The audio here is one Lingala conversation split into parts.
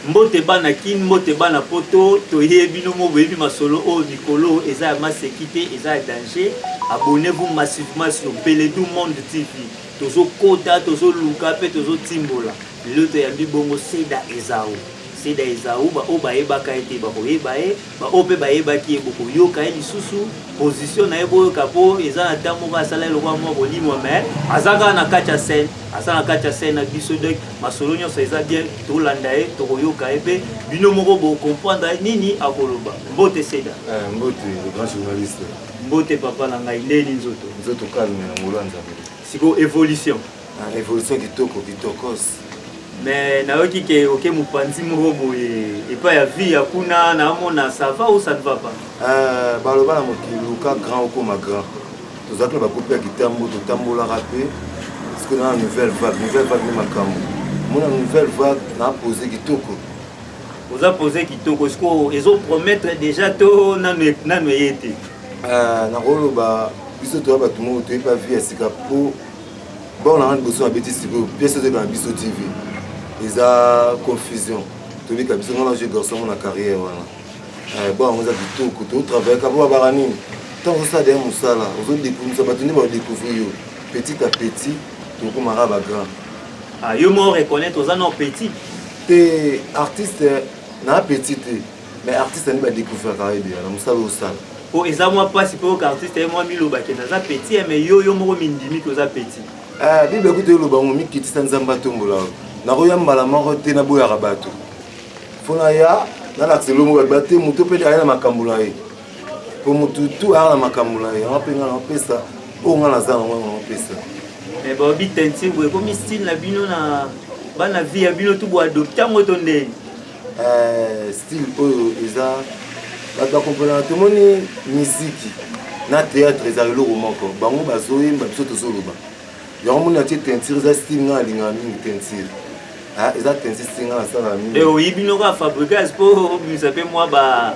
Mbote bana kin mbote bana poto toye bino mo boyebi masolo oyo mikolo eza ya maseki te eza ya danger abonnez vous massivement sur Beledu monde TV tozo kota tozo luka pe tozo timbola lelo toyambi bongo Seda Ezau Seda Ezau ba oyo bayebaka ye te bakoyeba ye Ba oyo pe bayebaki ye bokoyoka ye lisusu position na ye boyoka po eza na temps moko asala ye lokola mwa kolimwa mais aza kaka na kati ya scène aza na kati ya scène na biso donc masolo nyonso eza bien tolanda ye tokoyoka ye pe bino moko bocomprendre ye nini akoloba mbote seda Eh, mbote le grand journaliste mbote papa na ngai ndeni nzoto nzoto calme na ngolu ya nzambe sikoyo evolution Na revolution kitoko kitokos. Mais nayoki ke oke mopanzi moko boye epai ya vie ya kuna naamona ça va ou ça ne va pas? Euh, baloba na mokili luka grand okoma grand. Tozalaki na bakupe ya kitambo totambolaka mpe sikoyo na nouvelle vague nouvelle vague nde makambo mona nouvelle vague na pose kitoko oza pose kitoko sikoyo ezopromettre déjà to nano eye te euh, nakoloba biso toya bato moko toyebi bavi ya sika mpo bor na nga liboso na beti sikoyo pièce ozoyeba na biso tv eza confusion tobika biso nga na jeu garçon ngo na carrière wana eh, bor yango eza kitoko totravaillaka po babaka nini ntango ozosala deya mosala ozodekouvisa bato nde baodecouvrir yo petit à petit tokomaka bagrand ah, yo mo reconnaître oza na petit te artiste na petit te mais artiste nde badécouvraka yo ebela na mosala osala po eza mwa mpasi mpe oyoka artiste ye mwa miloba kende aza petit eh, mais yo yo moko mindimi ke oza petit eh, bible kutu eloba ngo mikitisa nzambe atombola yo nakoya mbala moko te naboyaka bato mpo naya nalakisa elongo bato bate moto mpe aya na makambo na ye mpo motu tu aya na makambo na ye yango mpe ngai napesa oyo ngai naza nango yango napesa eh, baobi tentimbo ekomi style na bino na bana vie ya bino tu boadopte yango to ndenge Eh, style oyo eza bato bakomponaka tomoni miziki na théâtre eza eloko moko bango bazoyemba biso tozoloba yango moni atie teinture eza style ngai alingaka mingi teinture ah, eza teinture style ngai nasalaka mingi eh, oyibi noko ya fabrigas mpo obimisa mpe mwa ba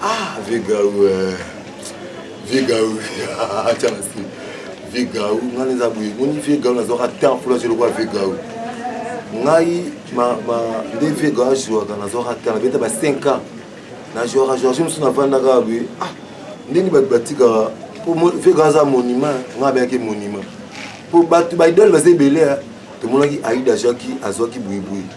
Ah, Vigaou, euh, Vigaou, acha basi. Vigaou, nga neza boye, moni Vigaou na zoka temps pour la jelo kwa Vigaou. Ngai ma ma nde Vigaou jouaka na zoka temps, beta ba 5 ans. Na jouaka jouaka je me suis na vanda ka boye. Ah, ndeni ba batika pour Vigaou za monument, nga ba ke monument. Pour batu ba idole ba zebele, tomonaki Aïda jouaki, azwaki boye boye.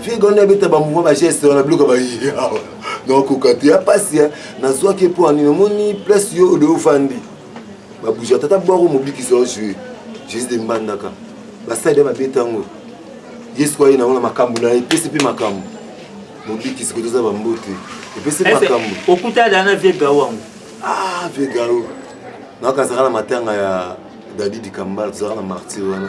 Figo wana ebeta ba mouvement ba geste wana biloko ba yawa. Donc kokatu ya pasi ya nazwaki mpo ani namoni place yo odo ofandi. Ba bouger tata bwako mobiki zo jouer. Jésus de Mbandaka. Ba side ba beta ngo. Yesu kwa yena wana makambo na epesi mpe makambo. Mobiki siko toza ba mbote. Epesi makambo. Okuta dana vie gawa ngo. Ah vie gawa. Nakazaka na matanga ya Daddy Dikambala tozaka na martyr wana.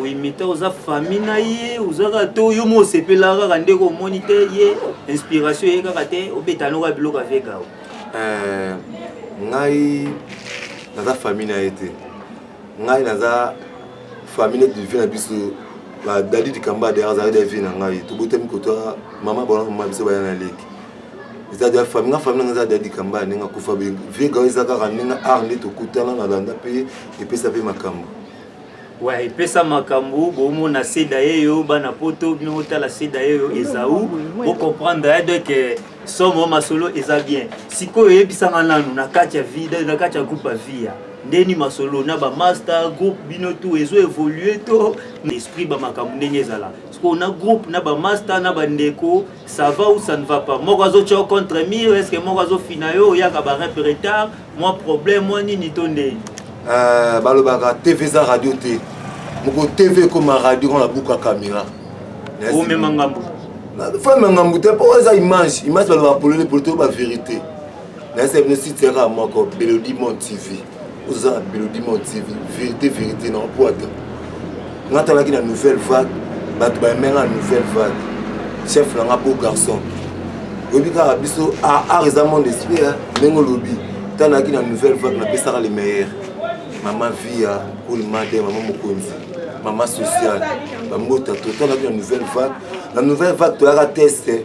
oyimita oza famille na ye oza kaka to yo mo osepela kaka ndeko omoni te ye inspiration ye kaka te obeta noka biloko avegao eh, ngai naza famille na ye te ngai naza famille neti vie na biso badadi likamba de azali da vie na ngai tobotami kotoa mama bona mama biso baya na leki eza da famille nga famille nanga eza dadi likamba ndenge akufa vie gao eza kaka ndenge art nde tokutana nalanda mpe epesa mpe makambo wa epesa makambo bomona seda yeyo bana poto bino botala seda yeyo ezau bocomprendre ya donc eh, somo masolo eza bien sikoyo oyebisanga nanu na kati ya vida na kati ya groupe ya via ndeni masolo na bamaster groupe bino tu ezo évolue to esprit bamakambo ndenge ezala sikoyo na groupe na bamaster na bandeko ça va ou ça ne va pas moko azo tio contre mur est ce que moko azo fina yo oyaka ba rep retard moi problème moi nini to ndeni euh, balobaka tv eza radio te moko tv ekoma radio kona buka camera omema ngambo fo emema ngambo te mpo eza image image balobaka polele polo te oyo bavérité nayesa bino site yaka moko belodimon tv oza na belodimon tv vérité vérité na opwata nga talaki na nouvelle vague bato bayemenga na nouvelle vague chef na nga beau garçon oyebi kaka biso ah, art eza mon esprit ndenge olobi talaki na nouvelle vague napesaka le meilleur mama via olimade mama mokonzi mama sociale bambota totalaki na nouvelle vague na nouvelle vague toyaka teste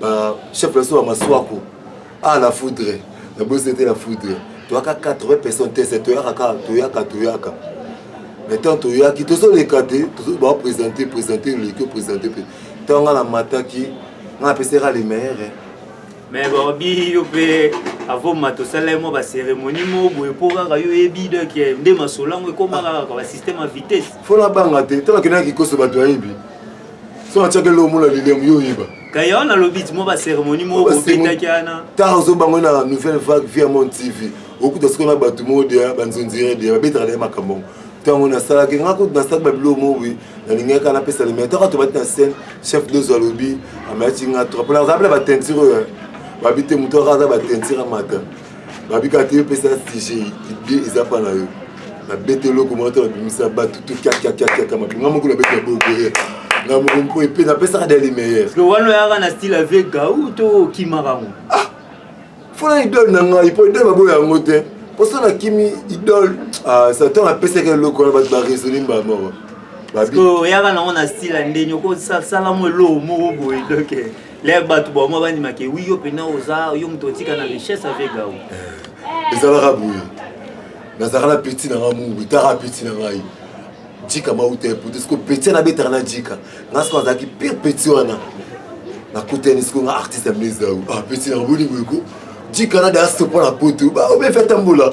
ba chef na biso ba maswaku ah la foudre na bosi ete la foudre toyaka 80 personnes te se toyaka kaka toyaka toyaka mais ntango toyaki tozoleka te baopresente presente leki opresente mpe ntango nga namataki nga napesaka le meilleur mais baobi yo mpe avoma tosala ye mwa bacérémonie moko boye mpo kaka yo oyebi donc eh, nde masolo yango ekomaka kaka basystème ya vitesse fona banga te ntango akendaki koso bato ayebi so natiaki eloko mona lilium yo oyeba kayo nalobi timo baceremonie moko obetaki ana ntango ozobango na nouvelle vague via mon tv okuta soko na bato moko deya banzonzire deya babetaka naye makambo yango ntango nasalaki nga kutu nasalaki babiloko moko boye nalingaki napesa limai ntango ato bati na scène chef dozo alobi amayaki nga trop mpo nazalapela batentire oyo babi te moto aka aza batentire amata babika te opesa sujet idée eza pa na yo nabeta eloko moko to nabimisa bato to kiakiakiakiaka mabinga moko nabeta na boboye nga moko mpo epe napesaka de le meilleur wana oyaka na style avec gau to okimaka yango ah! fona idole na ngai mpo idole baboya yango te mposo nakimi idole ah, satan apesaka eloko wana bato baraisonne mbamoko oyaka nango na style ya ndenge okosala mwa eloko moko boye doke lève bato bamwa bandima ke wi yo mpena oza yo moto otika na richesse avec gao eh, ezalaka boye nazalaka na peti na ngai mungu etaka peti na ngai jika mauta ya poto siko peti na betaka na jika ngai siko nazalaki pire peti wana nakutani siko nga artiste ya mlezau ah peti na bolingo eko jika na daya sopo na poto baobefi atambola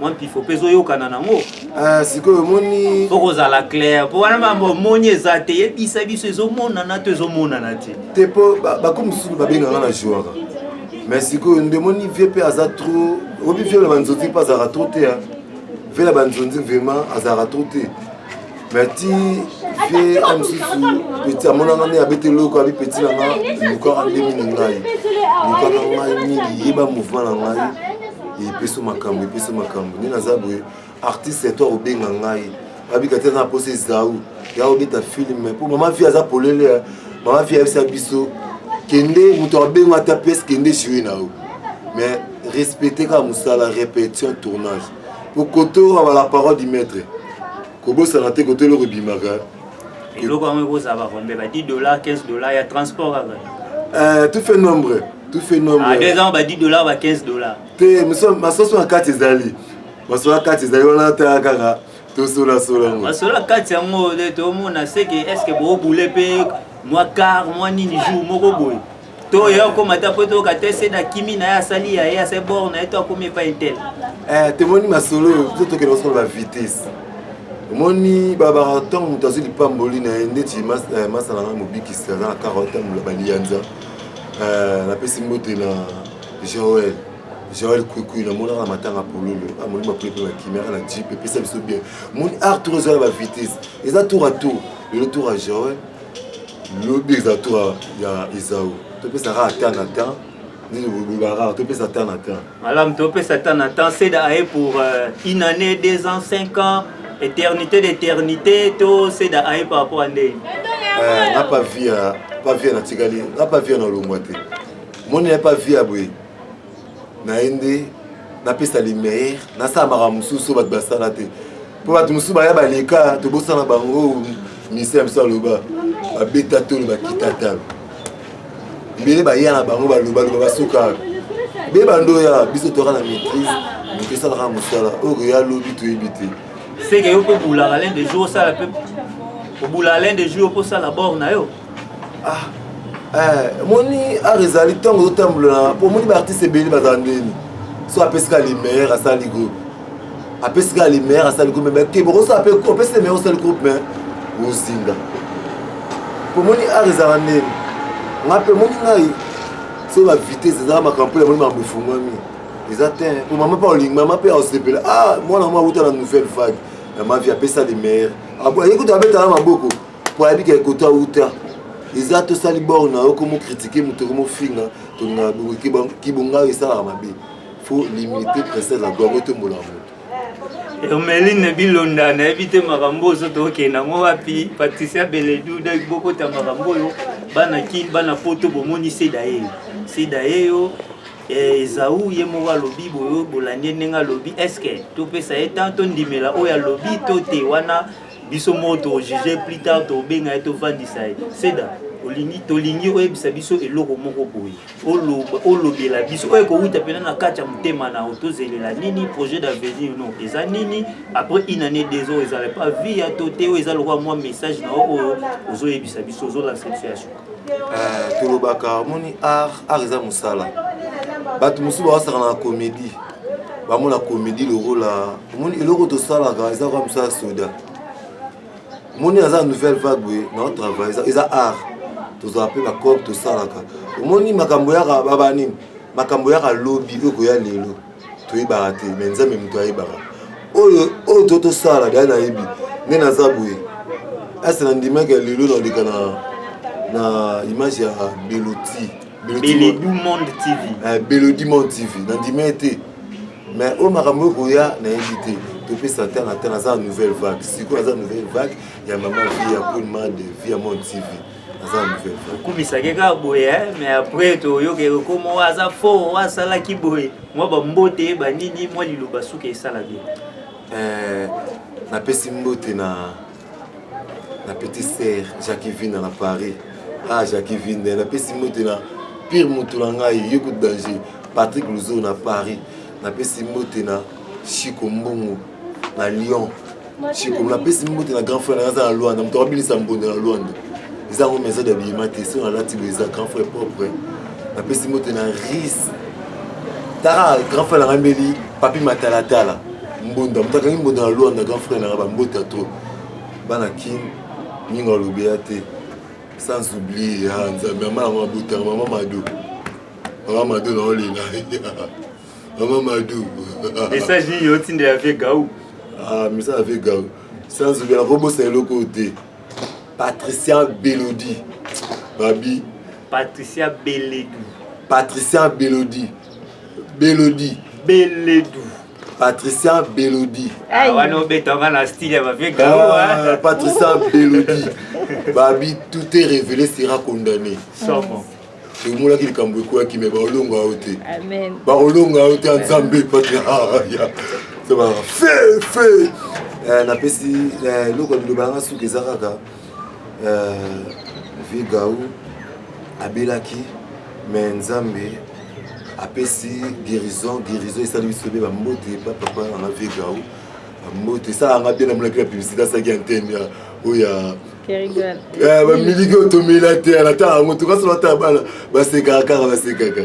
mwa mpifo mpe ezoyokana nango ah, sikoyo omoni mpo kozala claire mpo wana mambo omoni eza te yebisa biso ezomonana to ezomonana te te mpo bako mosusu babengaka na jouaka mais sikoyo nde omoni vie mpe aza trop obi vie na banzonzi mpe azalaka trop te vie na banzonzi vraiment azalaka trop te mais ti vie a mosusu peti amonanga nde abeti eloko abi peti na nga lukaka nde mingi ngai lukaka ngai mingi yeba mouvement na ngai epeso makambo epeso makambo nde naza boye artiste eto akobenga ngai abika te na posa ezau ya obeta filme mpo mama vie aza polele eh. mama vie ayebisa biso kende moto abenga ata pese kende jue na yo mais respecte kaka mosala répétition tournage okotoka bala parole du maître kobosana te koto eloko ebimaka eloko yango ekozala bakombe ba 10 dollar 15 dollar ya transport kaka eh, tout fait nombre tout fait nombre ah, deux ans ba 10 dollar ba 15 dollar te masoso na kati ezali masoso na kati ezali wana ta kaka tosolasola ngo masoso na kati yango tomona seke est ce que boobule mpe mwa car mwa nini jour moko boye to ye akoma ata po toyoka te se na kimi na ye asali ya ye asali bor na ye to akomi epai tel eh, tomoni masolo oyo to tokende kosala ba vitesse omoni babaka ntango moto azwi lipamboli na ye ndeti eh, masala na mobikisi aza na karota mola baliyanza eh, napesi mbote na joel joel kwikwi namonaka na matanga pololo amoni ah, mapule mpe bakimaka na jip epesa biso bien moni art tour ezala ba vitesse eza tour a tour lelo tour a joel lobi eza tour ya ezau topesaka ata na temps nini bolobaka topesa ata na temps malamu topesa ata na temps seda aye pour euh, une année deux ans cinq ans éternité d'éternité to seda aye par rapport à ndenge euh, nga pa vie ya pa vie natikali nga pa vie na longwa te moni ya pa vie ya boye na ye nde napesa le meilleur nasala makambo mosusu bato basala te mpo bato mosusu baya baleka tobosana bango ministère ya biso aloba babeta tolo bakita talo ebele baya na bango balobaloba basokaka be bando oya biso toyaka na maîtrise tosalaka mosala oyo koya lobi toyebi te seke yo mpe bulaka lende jour osala mpe obulaka lende jour yo mpe osala bor na yo ah, eh, moni art ezali ntango ozotambola mpo omoni baartiste ebele bazala ndeni so apesi ka limeilleur asali groupe apesi ka limeilleur asali groupe me keba opesi limeilleur osali groupe me ozinga mpo omoni art ezala ndeni nga mpe omoni ngai so bavitese ezala makambo mpo yamoni makambo efungwami eza te mpo mama mpe olingi mama mpe aosepela ah mwana mwa auta na nouvelle vague ya mavi apesa limeilleur ayekuta abetala maboko po ayebi ke koto awuta eza tosali bor na yo komo kritike moto ekomofinga tolingaka bokoki kibonga oyo esalaka mabe fo limite princese na gwango etombola moto hermeline bilonda nayebi te makambo oyo soto okenda yango wapi patricia beledu daki bokota makambo oyo bana kin bana poto bomoni seda yeyo seda yeyo eh, ezau ye moko alobi boyo bolandi ye ndenge alobi eske topesa ye temps tondimela oyo alobi to te wana biso moko tojuge plus tard tobenga ye tovandisa ye seda olingi tolingi oyebisa biso eloko moko boye olobela biso oyo ekowuta mpena na kati ya motema na yo tozelela nini projet d'avenir no eza nini après une année deux oyo ezala pa vie ya to te oyo eza lokola mwa message na yo oyo ozoyebisa biso ozolansa biso ya suka euh, tolobaka omoni art art eza mosala bato mosusu bawasaka na comédie bango na comédie lokola omoni eloko tosalaka eza kaka mosala soda omoni aza nouvelle vague boye nao travail eza, eza art tozala mpe bacope tosalaka omoni makambo yaka baba nini makambo yaka lobi oyo koya lelo toyebaka te me nzambe moto ayebaka oyo oyo to tosala dai nayebi nde naza boye ase na ndimaki ya lelo naleka na, na image ya beloti beledumond tv eh, beledumond tv nandimi ye te mais oyo makambo ekoya nayebi te topesa ntango ata naza nouvelle vague sikoyo naza nouvelle vague ya mama vie ya kunma de vie ya monde tv aza ya nouvelle vague okumisaki kaka boye mais après toyoke okomo aza fort asalaki boye mwa bambote banini mwa liloba suka esala bien eh, napesi mbote na na petit ser jacqui vina na paris ah jacqui vina napesi mbote na pire moto na ngai ye ko danger patrick luzo na paris napesi mbote na chiko mbongo na lyon chiko napesi mbote na grand frère na ngai aza na lwanda moto akabinisa mbonde na lwanda eza yango maison d'habillement te soki nalati boye eza grand frère propre napesi mbote na ris tara grand frère na ngai mbeli papi matalatala mbonda moto akangi mbonda na luanda grand frère nanga bambota to bana kin ninga alobi ya te sans oublie ya nzambe mama yango abotaka mama mado mama mado naolela mama mado message nini otinda ya vie gau ah message ya vie gau sans oublie nakobosa eloko oyo te patricia belodi babi patricia belodi patricia belodi belodi beledu patricia belodi Ah, wana obetanga na style ya bavie Ah, patricia belodi babi tout est révélé sera condamné somo tomonaki likambo ekwaki me baolonga yo te Amen. bakolonga yo te ya nzambe patria fe fe Eh, napesi eh, eloko ya biloba yanga suka eza kaka Euh, Vigau abelaki mais Nzambe apesi guérison guérison esali biso be bambote epa papa nanga Vigau bambote esalaka nga bien namonaki na publicité asalaki antenne ya oyo ya bamiliki otomela te anatala yango tokasola ata bana basekaka kaka basekaka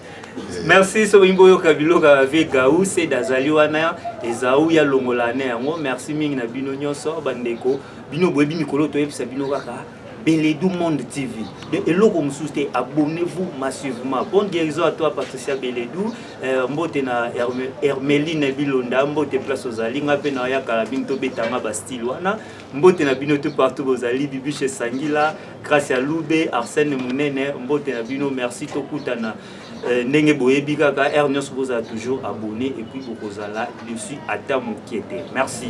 merci soki olingi oyoka biloko ya vie gau sede azali wana ezau ya longola ne yango merci mingi na bino nyonso bandeko bino boyebi mikolo toyebisa bino kaka Beledou Monde TV. De Eloko Moussouste, abonnez-vous massivement. Bonne guérison à toi, Patricia Beledou. Euh, mbote na Hermeline Bilonda, mbote place aux Alinga, pe na Yaka, Binto Betanga, Bastille, wana. mbote na bino tout partout bozali bibiche sangila gracia lube arsène munene mbote na bino merci tokutana euh, ndenge boyebi kaka heure nyonso bozala toujours abonné et puis bokozala dessus ata moke te merci